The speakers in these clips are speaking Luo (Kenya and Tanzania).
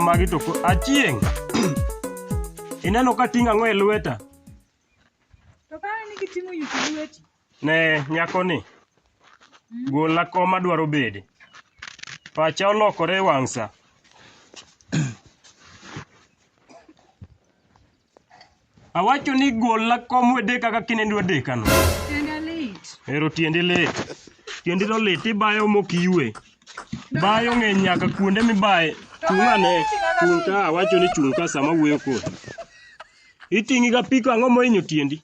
magi to achieng' ineno ka ting' ang'o e lweta to ka an gi ting'o yuti lweti ne nyakoni, golna kom adwaro bede. Pacha olokore e wang' sa. Awacho ni golna kom wedeka kaka inende wadekano. Tienda lit. Ero tiendi lit. Tiendi to lit, ibayo mok iywe. Bayo ng'eny nyaka kuonde mibaye. Chung' ane, chung' ka, awacho ni chung' ka sama awuoyo kodi. Iting'iga piko ang'o mohinyo tiendi?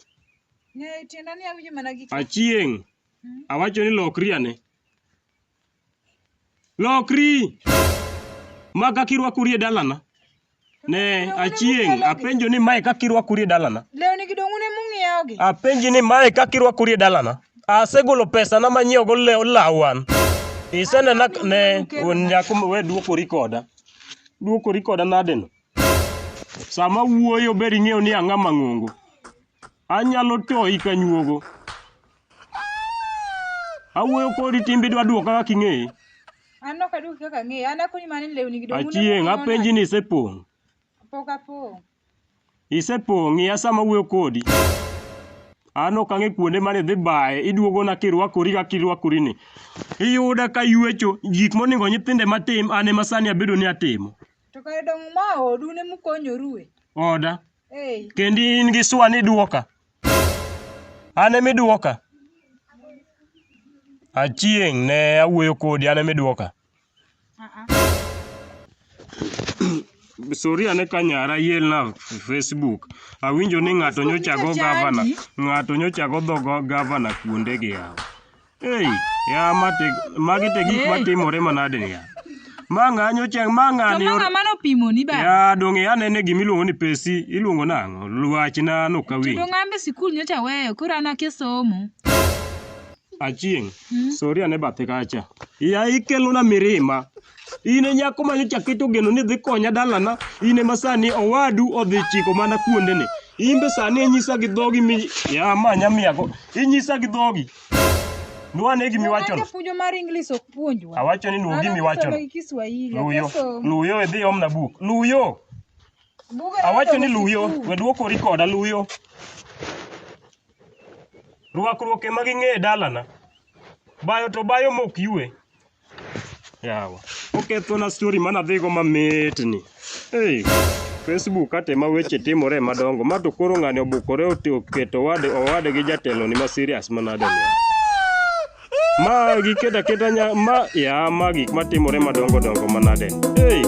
Ng'eyo tienda ni awinjo mana gi Achieng'. Awacho ni lokri ane. Lokri! Ma kaka irwakori e dalana. Ne, achieng', apenjo ni mae kaka irwakori e dalana. Lewni gi dong'une mung'iewo gi. Apenji ni mae kaka irwakori e dalana. Asegolo pesana manyiewo go lew law an. Isenena k- ne wuon nyako ma- we dwokori koda. Dwokori koda nadeno. Sama wuoyo ber ing'eyo ni ang'a mang'ongo. Anyalo toyi ka nyuogo. Awuoyo kodi timbe dwa duoka kaka ing'eyi. An ok aduoki kaka ang'eyi. An akonyi mana ni lewni gi dong' Achieng' apenji ni isepong'. Pok apong'. Isepong' ng'iya sama awuoyo kodi. An ok ang'e kuonde mane idhi baye, iduogona kirwakori kaka irwakori ni. Iyuda ka yuecho, gik monego nyithindo ema tim, an ema sani abedo ni atimo. To kare dong' ma odu ne mukonyorue. Oda. Kendi in gi swa ni duoka. An emi duoka. Achieng' ne awuoyo kodi an emi duoka. Sori ane ka nyara yelna Facebook. Awinjo ni ng'ato nyocha go gavana, ng'ato nyocha go dho gavana kuonde gi yawa. Ei, ya mate, magi te gik matimore manade ni ya. Ma ng'anyo chang, ma To ng'ani ma or... ng'ama nopimo ni ba. Ya dong' ya nene gima iluongo ni pesi, iluongo nang'o? Luachna To nokawinj. dong' ambe sikul nyocha weyo, koro an akia somo. Achieng', Mm. sori ane bathe kacha. Ya ikelona mirima. In e nyako ma nyocha keto geno ni dhi konya dalana, in ema sani owadu odhi chiko mana kuondene. In be sani inyisa gi dhogi mi ya ma nyamiyago. Inyisa gi dhogi. Nuane gimi wacho. Nuane puonjo mar English ok puonjwa. Awacho ni nuo gimi wacho. Luyo. Luyo idhi omna buk. Luyo. Awacho ni luyo. We duoko rikoda luyo. Ruakruok ema ging'e e dalana. Bayo to bayo mok yue. yawa okethona story mana dhigo mamitni hey. Facebook kate ma weche timore madongo ma to koro ng'ani obukore oketo wade owade gi jatelo ni ma serious manade ni ma giketa keta nya ma ya ma gik matimore madongo dongo manade hey.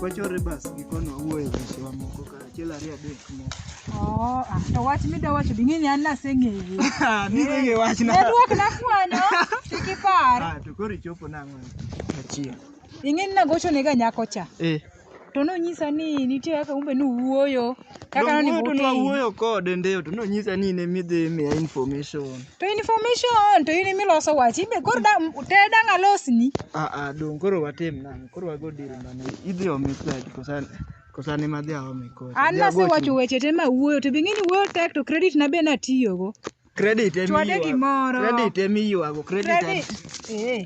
wachore bas gikono wawuoyo e weche wamoko ka achiel ariyo adek moko oh, ah, to wach midwa wacho bi ng'eni an naseng'eye ah, ning'eye wachna duok na kwano kik ipar ah, to koro ichopo nang'o achiel ing'eni nagochonega nyako cha eh. To nonyisa ni nitie kaka umbe nuwuoyo. Kaka Donge nonimo to uti. nwawuoyo kode ndeyo to nonyisa ni in emidhi miya information. To information to in imiloso wach. Ibe koro da ted ang' alosni. Ah ah dong koro watim nang'. Koro wago deal mane. Idhi omi pesa kosa kosa ne madhi aome kocha. An Idhi agochni. nasewacho weche te ma wuoyo to be ing'e ni wuoyo tek to credit na be natiyogo. Credit emi Chwade ywago. gimoro. Credit emi ywago. Credit. Credit. Eh.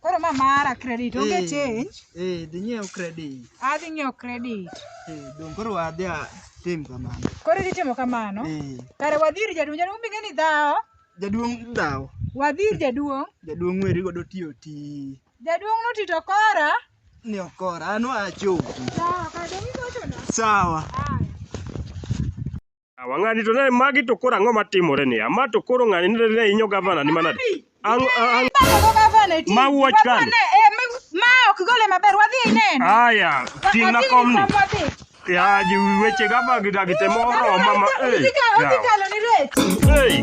Koro ma mara credit onge Eh, change. Eh, dhi nyiew credit. Adhi ng'iewo credit. Eh, dong koro wadhi a- tim kamano. Koro idhi timo kamano. Eh, Kare wadhi ir jaduong' jaduong' bing'e ni dhawo. jaduong' dhawo. Wadhi ir jaduong'. Jaduong' weri godo tiyo ti. Jaduong' notito kora. Ni okora, an wacho. Dhawo, kare dong' igochona. Sawa. Aya. Yawa ng'ani to ne magi to koro ang'o matimore ni? Ama to koro ng'ani ne ne inyo gavana ni manade? Ang ang ma wuoch kan. Ma ok gole maber wadhi ineno. Aya, ting' na kom ni. Ya ji weche gaba gi dagi temo oro mama. Eh. Hey.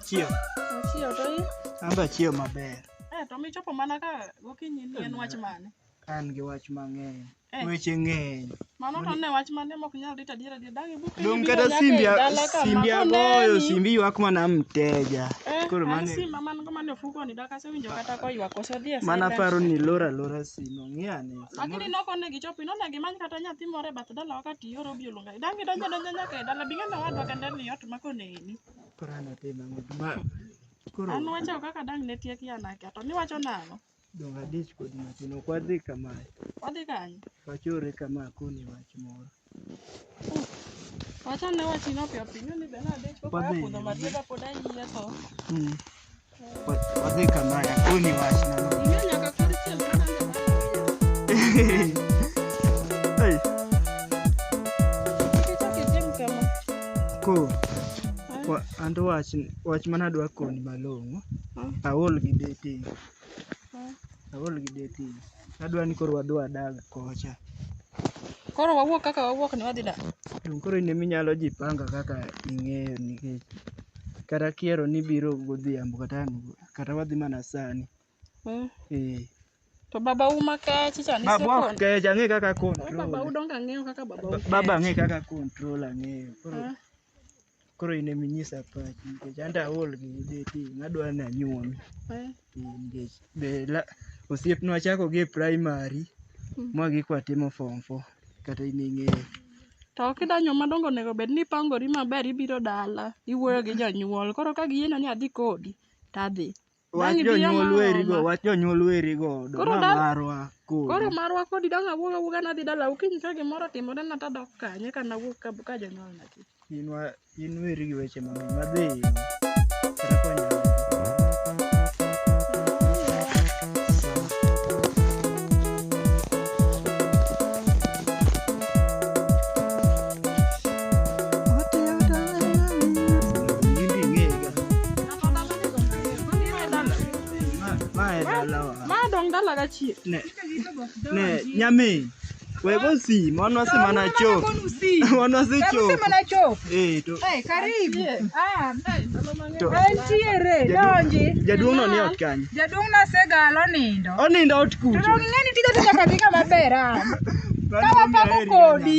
Achiew. Achiew to in? An be achiew maber. Eh, to michopo mana ka gokinyi ni en wach mane? An gi wach mang'eny. Eh. Weche ng'eny. Mano to ne wach mane mok nyal rito adiera gi dagi buke. Dong kata simbi simbi agoyo simbi ywak mana mteja. Eh, Koro mane. Simba man go mane ofuko ni daka sewinjo kata ko ywak ose dhi e. Mana paro ni lora lora simo ng'iyane. Lakini noko ne gichopi none gimany kata nyathi moro e bath dalawa ka tiyo robi olunga. Dang' idonjo donjo nyaka e dala, bing'e nowadwa kende ni ot ma koneni. Koro an atim ang'o? Ma koro An wacho kaka dang' ne tiek ya nake, to niwacho nang'o? dong' adich kodi matin. Ok wadhi kama, Wadhi kanye? wachore kama akoni wach moro. Wachane wachino piyo piyo, ing'e ni be nadich koko Wadhi. apodho matiega pod ayie tho. Mm. Ko anto wach wach mana dwa koni malong'o. Aol gi dating. Aol gi dating. Adwa ni koro wadwa dag kocha. Koro wawuok kaka wawuok ni wadhi dak. Donge koro in ema inyalo ji panga kaka ing'eyo nikech kata kiero ni ibiro godhiambo kata ang' kata wadhi mana sani. Mm. Eh. To baba u ma kech cha ni Baba ok kech ang'e kaka Koro baba u control. donge ang'eyo kaka baba u. Baba ang'e kaka control ang'eyo. Koro Ah. Koro in ema inyisa pachi nikech an to aol gi beti nadwa ni anyuomi. Eh, Nikech be la- osiepna wachako gi e primary ma gik watimo form four kata in ing'eyo. To kidanyo madongo onego bed ni ipangori maber ibiro dala, iwuoyo gi jonyuol. Koro ka giyiena ni adhi kodi, to adhi. Wach jonyuol werigo, wach jonyuol werigo, oduma marwa kodi. Koro marwa kodi dong' awuog awuoga nadhi dala okinyi ka gimoro otimore na tadok kanye ka nawuog ka, ka jonyuol na kik. In wa in weri gi weche mang'eny madhi. madong dala ka chie ne ne nyami wego si mano si mana cho mano si cho mana cho eh to eh karibu ah to entiere donji jaduong no ni ot kany jaduong na segalo nindo onindo ot kucho to ng'eni tiga tiga katika mabera kawa pako kodi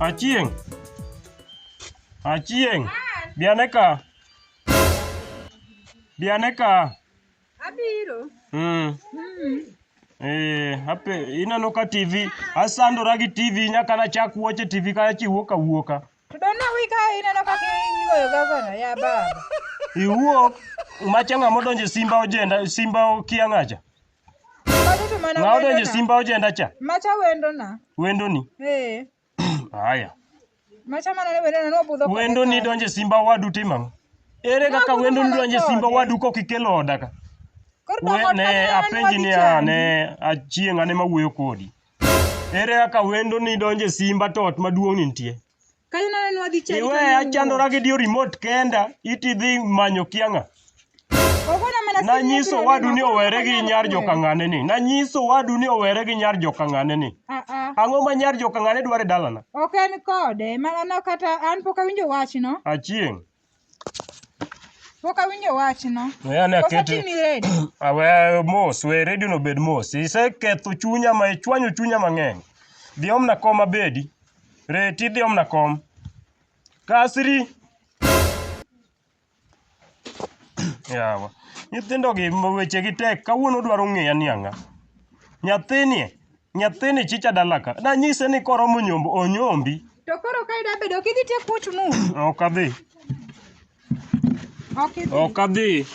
Achieng. Achieng. Bianeka. Bianeka. Abiro. Mm. Mm. Eh, hape ineno ka TV asandora gi TV nyaka nachak wuoche TV kachiwuok awuoka. To dona wika ineno kaka igoyo gavana ya baba. Iwuok macha ng'ama odonjo e simba ojenda simba okia ng'acha. Magi to mana Ng'ama odonjo e wendona. simba ojenda cha Macha wendona. wendoni. Eh. Haya. Macha mana ne wendona nobudho. kode Wendoni kanyo. donjo e simba wadu timo ang'o? Ere kaka Nabudho wendoni mana donjo e simba kode. wadu kok ikelo oda ka? Koro We, dong' ne odkanyo apenji ni nodhi a chandi. ne achieng' ane mawuoyo kodi. Ere kaka wendo ni donje simba to ot maduong' ni nitie? Kayo nane nwa dhi chadi. Iwe achandora gi dio remote kenda iti dhi manyo kianga. Ogona mana sini. Nanyiso wadu ni owere gi nyar jokang'ane ni. Nanyiso wadu ni owere gi nyar jokang'ane ni. Ah ah. Ang'o ma nyar jokang'ane dware dalana? Ok en kode, mana no kata an pok awinjo wachno. Achieng'. Pok awinjo wachno. We ane Koso akete. timi ready. Awe mos, we redio no bed mos. Iseketho chunya ma ichwanyo chunya mang'eny. Dhi omna kom abedi. Reti dhi omna kom. Kasri. Yawa. Nyithindo gi ma weche gi tek. Kawuono dwaro ng'eya ni ang'a. Nyathini e. Nyathini chicha dala ka. Nanyise ni koromo nyombo onyombi. To koro ka ida bedo kidhi te kut mu. Ok adhi. Ok idhi. Ok adhi.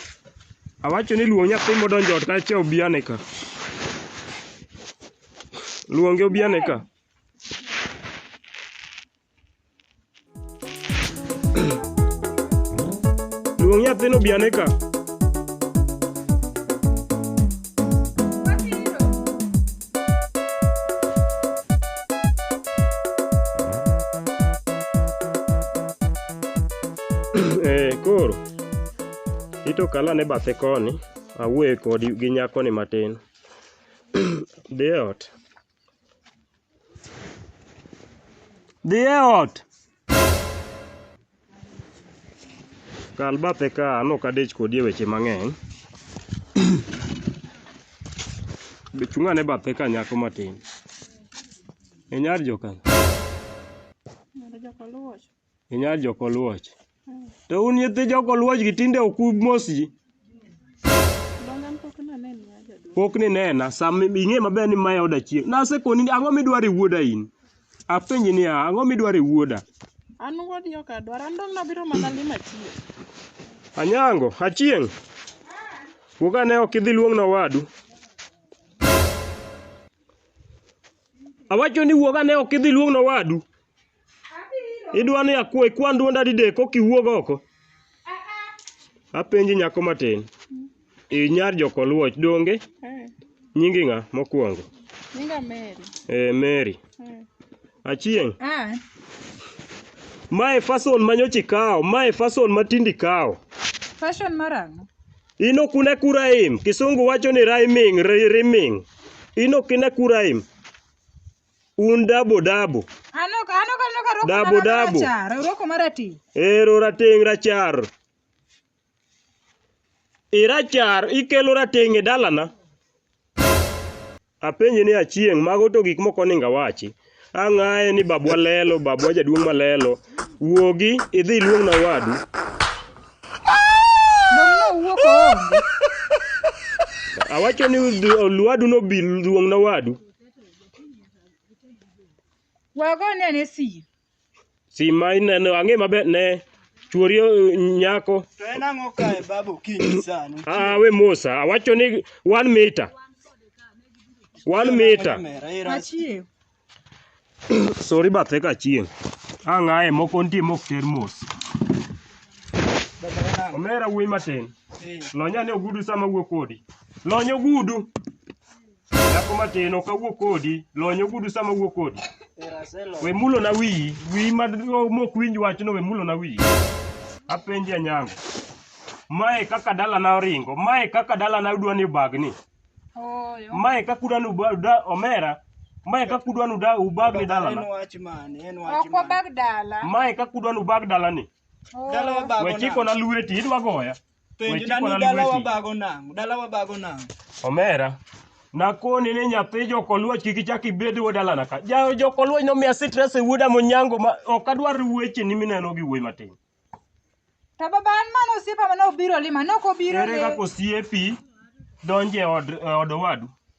Awacho ni luong nyathi modonjo ot kacha obiane ka. Luonge obiane ka. Luong nyathino obi ane ka. Eh, koro ito kala ne bathe koni awuoye kodi gi nyakoni matin dhi e ot Dhi e ot. Kal bathe ka an ok adich kodi e weche mang'eny. Be chung' ane bathe ka nyako matin. Inyar joka. Inyal jokoluoch. To un nyithi jokoluoch gi tinde ok umos ji. Pok ninena, sama ing'e maber ni mae oda chieng'. Nasekoni ni ang'o midwaro e wuoda in? Apenji niya, ang'o midwaro e wuoda? An wuodi ok adwar, an dong' nabiro mana lima chieng'. Anyango, achieng'. Wuog ane ok idhi luong'na owadu. Awacho ni wuog ane ok idhi luong'na owadu. Idwa ni akwa ikwan duonda didek kok iwuog oko? Apenji nyako matin. I nyar jokoluoch donge? Eh, Nyingi ng'a mokwongo? Nyinga Mary. Eh, Mary. Eh. Achieng'. Ah, Mae fason ma nyocha ikawo, mae fason ma tindi ikawo. fashion marang'o? In ok une kuraim, kisungu wacho ni rhyming, ri- rimming. In ok ine kuraim. Un dabo dabo. Ano ka ano ka ano ka roko Dabo, mara dabo. rachar, roko marati. Ero rateng' rachar. Irachar ikelo rateng' e dalana. Apenji ni achieng' mago to gik moko ninga wachi. Ang'aye ni babwa lelo, babwa jaduong' malelo. Wuogi idhi iluong na wadu. Dong' no wuok oonge. Awacho ni luadu no bi luong na wadu. Wagone ane sim. Sim ma ineno ang'e maber ne chuori eh, nyako. To en ang'o kae baba okinyi sani? Ah, we Musa, awacho ni one meter. One meter. Kamera, era. Achiew. Sorry bathe ka chieng'. Ang'aye moko nitie mok ter mos. Baba en ang'o? Omera wuoyi matin. Eh. Lonya ne ogudu sama wuo kodi. Lony ogudu. Nyako matin ok awuo kodi, lony ogudu sama awuo kodi. We mulo na wiyi, wiyi ma mok winj wachno we mulo na wiyi. Apenji Anyango. Mae kaka dalana oringo, mae kaka dalana udwa ni obagni. Mae kaka udwa ni uba- omera, mae kaka udwa ni uda- ubagni dalana. Ok wabag dala. Mae kaka udwa ni ubag dalani. Dala wabago We chikona lweti, idwa goya. Penjo Weche dani kwana dala lweti. wabago nang'o? Dala wabago nang'o? Omera. Nakoni ni nyathi jokoluoch kik ichak ibed wuod dalana ka. Ja jokoluoch nomiya stress e wuoda monyango ma ok adwar wecheni mineno gi wuoyi matin. To baba an mano osiepa mane obiro lima, ne ok obiro Ere kaka lima. osiepi donje od e od owadu?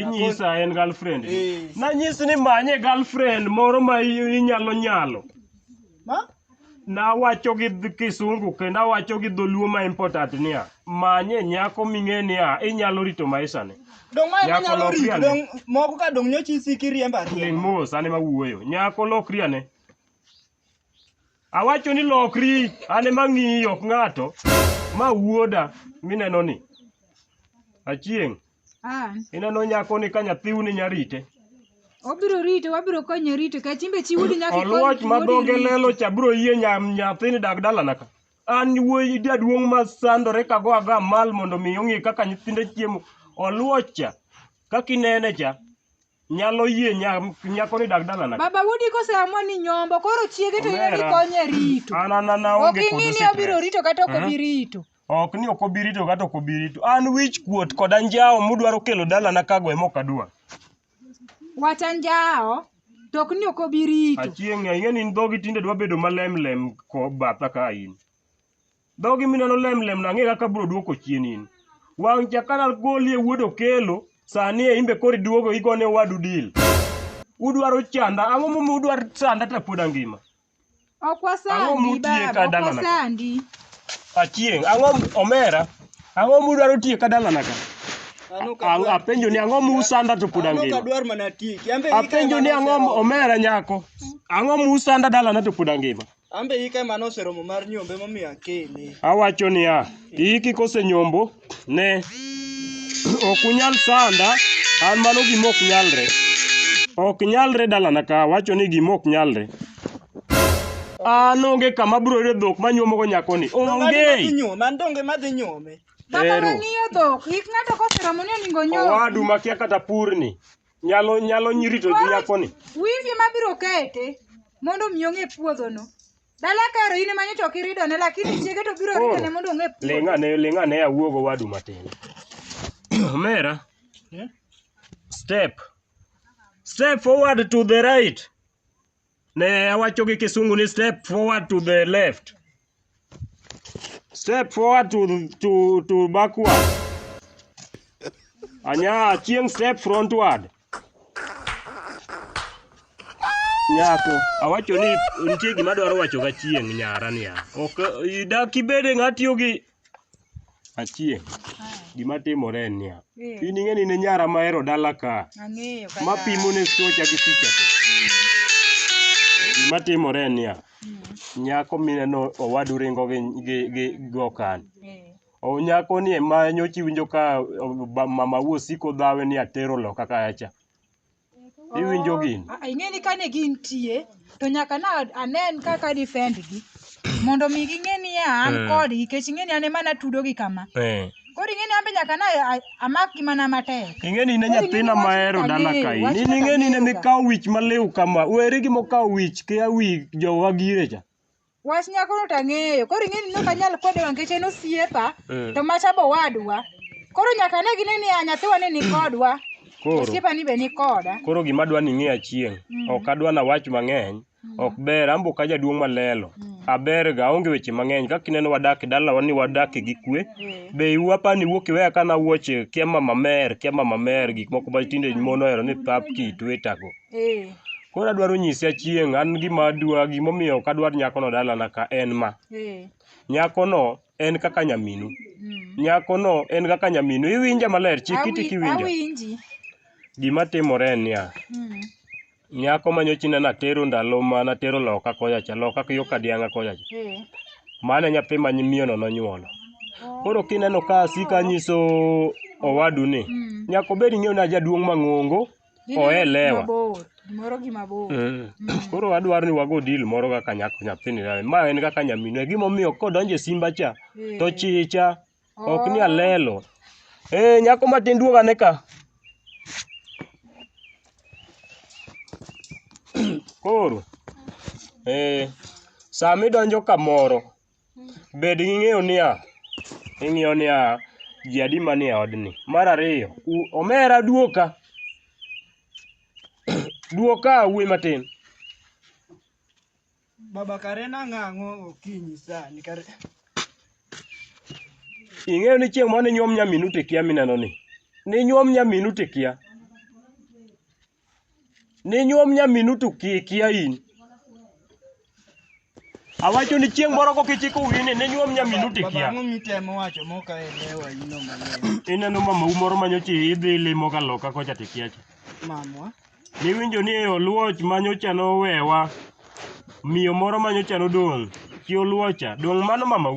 inyisa en girlfriend Eh. nanyisi ni manye girlfriend moro ma i- inyalo nyalo Ma? nawacho gi dh- kisungu kendo awacho gi dholuo ma important niya manye nyako ming'e niya inyalo rito maisane Dong' mae Nyako manyalo lokri rito ane. dong' moko ka dong' nyochi isiki riembo ling' ariemba. mos ane mawuoyo nyako lokri ane Awacho ni lokri, an ema ng'iyi ok ng'ato. Ma wuoda mineno ni. Achieng'. Ah. Ineno nyako ni ka nyathiu ni nyarite. Obiro rito, wabiro konye rito. Ka chimbe chi wuodi nyaka ikony. Oluoch ma dhoge lelo cha biro yie nyathini dag dalana ka. An wuoyi jaduong' ma sandore ka go aga mal mondo mi ong'e kaka nyithinde chiemo. Oluoch cha. Kaka inene cha. nyalo yie nyako ni dag dalana. Baba Wudi koseamua ni nyombo koro chiege to yie konye rito. An an an aonge kod stress. Ok ing'ini obiro rito kata ok obi rito. Ok ni ok obi rito kata ok obi rito. An wich kuot kod anjawo mudwaro kelo dalana kago ema ok adwa. Wach anjawo to ok ni ok obi rito. Achieng' ing'eni in dhogi tinde dwa bedo malemlem ko batha ka in. Dhogi mineno lem lem na ang'e kaka abiro duoko chien in. Wang' cha ka nagolie wuod Okelo, sani e in be koro iduogo igone owadu deal. Udwaro chanda, ang'o momiyo udwaro sanda to pod angima? Ok Ang'o wasandi mutiye ka baba, ok dalana ka? wasandi. Achieng', ang'o m- omera? Ang'o mudwaro tiye ka dalana ka? An ok Ang- adwar- Apenjo ni ang'o musanda to pod an ok angima? adwar mana tiki. An be ika Apenjo ni mana ang'o m- osero. omera nyako? Ang'o musanda dalana to pod angima? An be hika ema noseromo mar nyombo emomiyo akele. Awacho niya, ihiki kosenyombo, ne ok unyal sanda, an mano gima ok nyalre. Ok nyalre dalana ka, awacho ni gima ok nyalre. An onge kama abiro yudo dhok manyuomogo nyakoni, Donge adhi madhi onge! nyuome, an donge madhi nyuome. Baba Ero. mang'iyo dhok, hik ng'ato koseromo ni oningo nyom. Owadu makia kata purni, Nyalo nyalo rito nyakoni. Wiyi gima biro kete mondo mi ong'e puodhono. Dala karo in ema nyocha ok iridone lakini chiege to biro ridone mondo ong'e puodho. Ling' ane ling' ane awuog owadu matin. Omera. Step. Step forward to the right. Ne awacho gi kisungu ni step forward to the left. Step forward to, to, to backward. Anya chieng step frontward. Nyako, awacho ni nitie gima dwaro wacho ga chieng' nyara niya. Ok idak ibede ng'atiyo gi Achieng', gima timore en niya, Eh, in ing'e ni ne nyara mahero dala ka ang'eyo ma kata. pimo ne socha gi picha to. Gima timore en niya, Mm, nyako mineno owadu ringo gi gi gi gi okan. eh, O nyako ni ema nyocha iwinjo ka o, ba- mama wuo siko dhawe ni atero loka kacha. Iwinjo gini? Ah, ing'e ni kane gintie to nyaka na anen kaka defend gi mondo mi ging'e ni an Mm. kodgi nikech ing'e ni an ema natudo gi kama Eh. koro ing'e ni an be nyaka na a- amak gi mana matek Ing'e ni ne Koro nyathina ing'e ni mahero wach dala kaka kae. lew, wach Nini kaka ing'e ni ne lew ka. mikawo wich maliw kama. Weri gi mokawo wich kia wi jowa gire cha. Wach nyakono to ang'eyo. Koro ing'e ni ne ok anyal kwede wa nikech en osiepa, Mm. to macha be owadwa. Koro nyaka ne gine ni a nyathiwa ni nikodwa, Koro osiepa ni be nikoda. koro gima adwa ni ing'e achieng'. Mm. Ok adwa na wach mang'eny. Mm. Ok ber ambo ka jaduong' malelo. Mm. Aber ga onge weche mang'eny. Kaka ineno wadak e dalawa ni wadak gi kwe. Eh. Be iwu apani wuok iweya kana wuoche kia mama mer, kia mama mer gik moko ma tinde mon ohero ni pap ki tweet ago. Eh. Koro adwaro nyisi achieng' an gima adwa gimomiyo ok adwar nyakono dalana ka en ma. Eh. Nyakono en kaka nyaminu. Mm. Nyakono en kaka nyaminu. Iwinja maler, chik iti Awi- kiwinja. Awinji. Gima timore en niya, Mm. nyako ma nyocha ineno atero ndalo ma natero loka kocha cha, loka yo Kadianga kocha cha. Eh. Mano e nyathi ma miyono nonyuolo. Oh. Koro kineno ka asika nyiso owadu ni Mm. nyaka obed ing'eyo ni ajaduong' mang'ongo Gin Oelewa. mabor, gimoro gi mabor. Mm. Koro adwaro ni wago deal moro kaka nyako nyathini. na- Ma en kaka nyaminu. E gimomiyo kodonjo e simba cha Eh. to chicha ok ni Oh. alelo. Eh nyako matin duoga ne ka. Koro eh sama idonjo kamoro bed gi ng'eyo niya, ing'iyo niya, ji adi manie odni. Mar ariyo, u- omera duoka, duoka wuoyi matin. Baba Karena ng'ang'o okinyi sani kare. Ing'eyo ni chieng' mane nyuom nyaminu tikia mineno ni, ni nyuom nyaminu tikia. Ninyuom nyaminu to kikia in. Awacho ni chieng' moro kokichiko wini ninyuom nyaminu to Baba, ikia. ang'o mitemo wacho moka elewa ino mang'eny? Ineno mamau moro manyocha idhi limo ka loka kocha to ikia cha. Mamwa, Niwinjo ni oluoch manyocha nowewa, miyo moro manyocha nodong', chi oluocha, dong' mano mamau?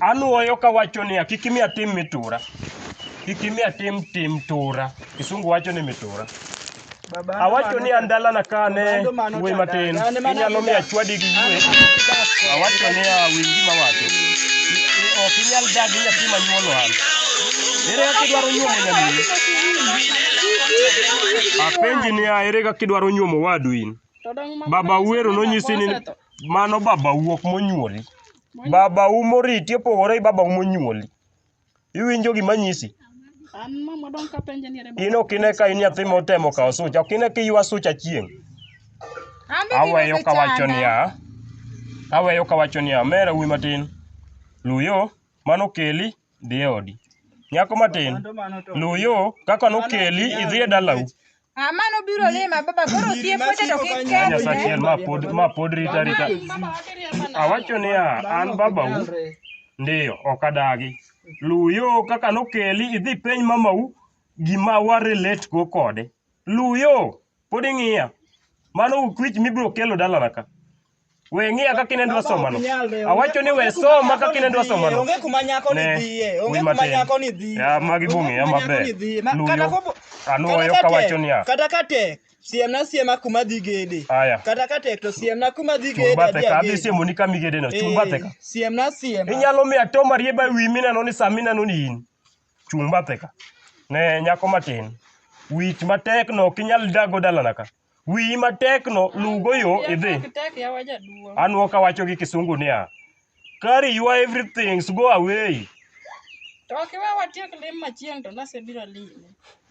Anwoyo kawacho niya, kik imiya tim mitura. Kik imiya tim tim tura. Kisungu wacho ni mitura. Awacho ni andalana ka ne wuoyi matin, inyalo miya chwadi gi yue. Awacho ni a winj gima wacho. I- Ok inyal dagi nyathi ma nyuolo an. Ere kaka idwaro nyuomo nyamini? Apenji niya, ere kaka idwaro nyuomo wadu in? Baba Uwero nonyisi ni Mano babau ok monyuoli. Babau moriti opogore gi babau monyuoli. Iwinjo gima nyisi? An mama dong' kapenje ni ere In ok ine ka in nyathi motemo kawo sucha, ok ine ka iywa sucha chieng'. Aweyo kawacho niya, aweyo kawacho niya, mera wuoyi matin, Luyo, mano keli, dhi e odi. Nyako matin, luw yo kaka nokeli idhi e dalau. Ah, mano biro lima baba koro osiep weche to kik Anya keth. sachiel ma pod ma pod rita rita. Awacho niya, an babau ndiyo ok adagi. Luw yo kaka nokeli idhi peny mamau gima wa relate go kode. Luw yo. Pod ing'iya. Mano ukwich mibiro kelo dalana ka. We ng'iya kaka inendo asomano. Awacho ni we soma kaka inendo asomano. Onge kuma nyako ni Ne, dhiye. wi Onge kuma matin. nyako ni dhiye. Ya, magi Onge bong'eya kuma nyako maber. ni dhiye. Ma- Luyo. kata kopo- Anuoyo kata ka kawacho tek- niya. Kata ka tek, siemna siema kuma dhi gede. Aya. Kata ka tek to siemna kuma dhi Chung' gede. bathe adhi ka, adhi agede. siemo ni kama igedeno. Chung' Eh, bathe ka. Siemna siema. Inyalo miya to marieba e wi mineno ni sa mineno ni in. Chung' bathe ka. Ne nyako matin. Wich matekno ok inyal dago dalana ka. Wiyi matekno luwgo yo idhi. Anwo kawacho gi kisungu niya, carry your everything go away. To ok iwe watiek lim machieng' to nasebiro limi.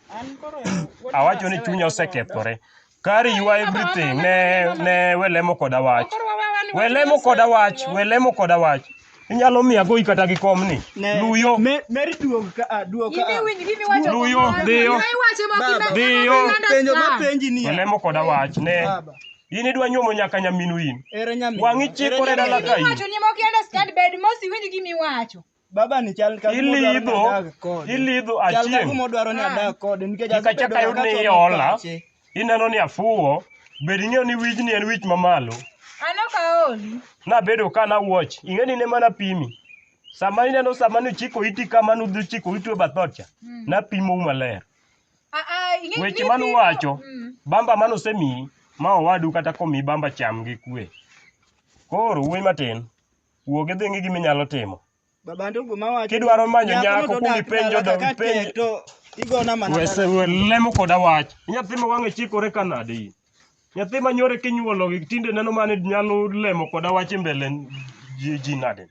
An koro wuod Awacho ni Nyasaye chunya wacho osekethore. Kari you are everything. Ne ne we lemo koda wach. Koro wawe awe ni We wach lemo Nyasaye koda wach. konyo. We lemo koda wach. Inyalo miya goyi kata gi kom ni. Ne- Luyo. Me- Mary duog ka a, duog ka a. Luyo, dhiyo. Dhiyo. Penjo ma penji ni. We lemo koda wach. Ne. Baba. In idwa nyuomo nyaka nyaminu in. Ere nyaminu. Wang'i chikore Ere dala nyaminu. ka in. baba ni chal ka gima odwaro ni Ilidho, adag kode. ilidho Chal ka achieng'. gima odwaro ni adag kode nikech Kik asebedo achak ayud ka ni achwalo iola. pache. Ineno ni afuwo. Bed ing'eyo ni wijni en wich mamalo. An ok aoli. Nabedo ka nawuoch. Ing'e ni ne mana pimi. Sama ineno sama nuchiko iti kama nudhi chiko iti e bath ot cha. Mm. Napimou maler. Ah, ah, ing'e- Weche ing'e mane pimo. uwacho. Mm. Bamba mane osemiyi ma owadu kata komiyi bamba cham gi kwe. Koro wuoyi matin. Wuog idhi ng'i gima inyalo timo. Baba ndugu mawacho. Kidwaro manyo nyako nyakono to kuong dak ipenjo dala dong- kaka ipenjo- tek to igona mana Wese dala. we lemo koda wach. Nyathi ma wang'e chikore ka nade in? Nyathi ma nyore kinyuolo gi tinde neno mane nyalo lemo koda wach e mbele ji, ji nade?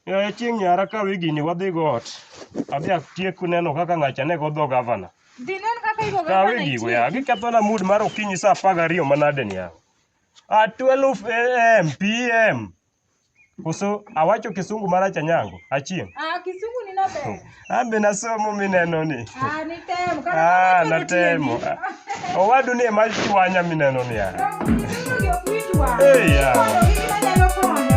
Yaya chieng' nyara ka wigini wadhi go ot. Adhi atiek neno kaka ng'acha ne godho gavana. Dhi nen kaka igo Ka gavana wigi go itie. ya gikethona mood mar okinyi saa apar gariyo manade ni ya. Ah, 12 am pm. Koso awacho kisungu marach anyango. Achieng'. Ah, kisungu ni naber. Ambe nasomo mineno ni. Ah, nitemo. Kata Ah, wawacho natemo. matieni. Ah, Owadu ni ema chwanya mineno ni ah. Kisungu ni ok wit wang'. Eh, yeah. Mondo gik manyalo konyo.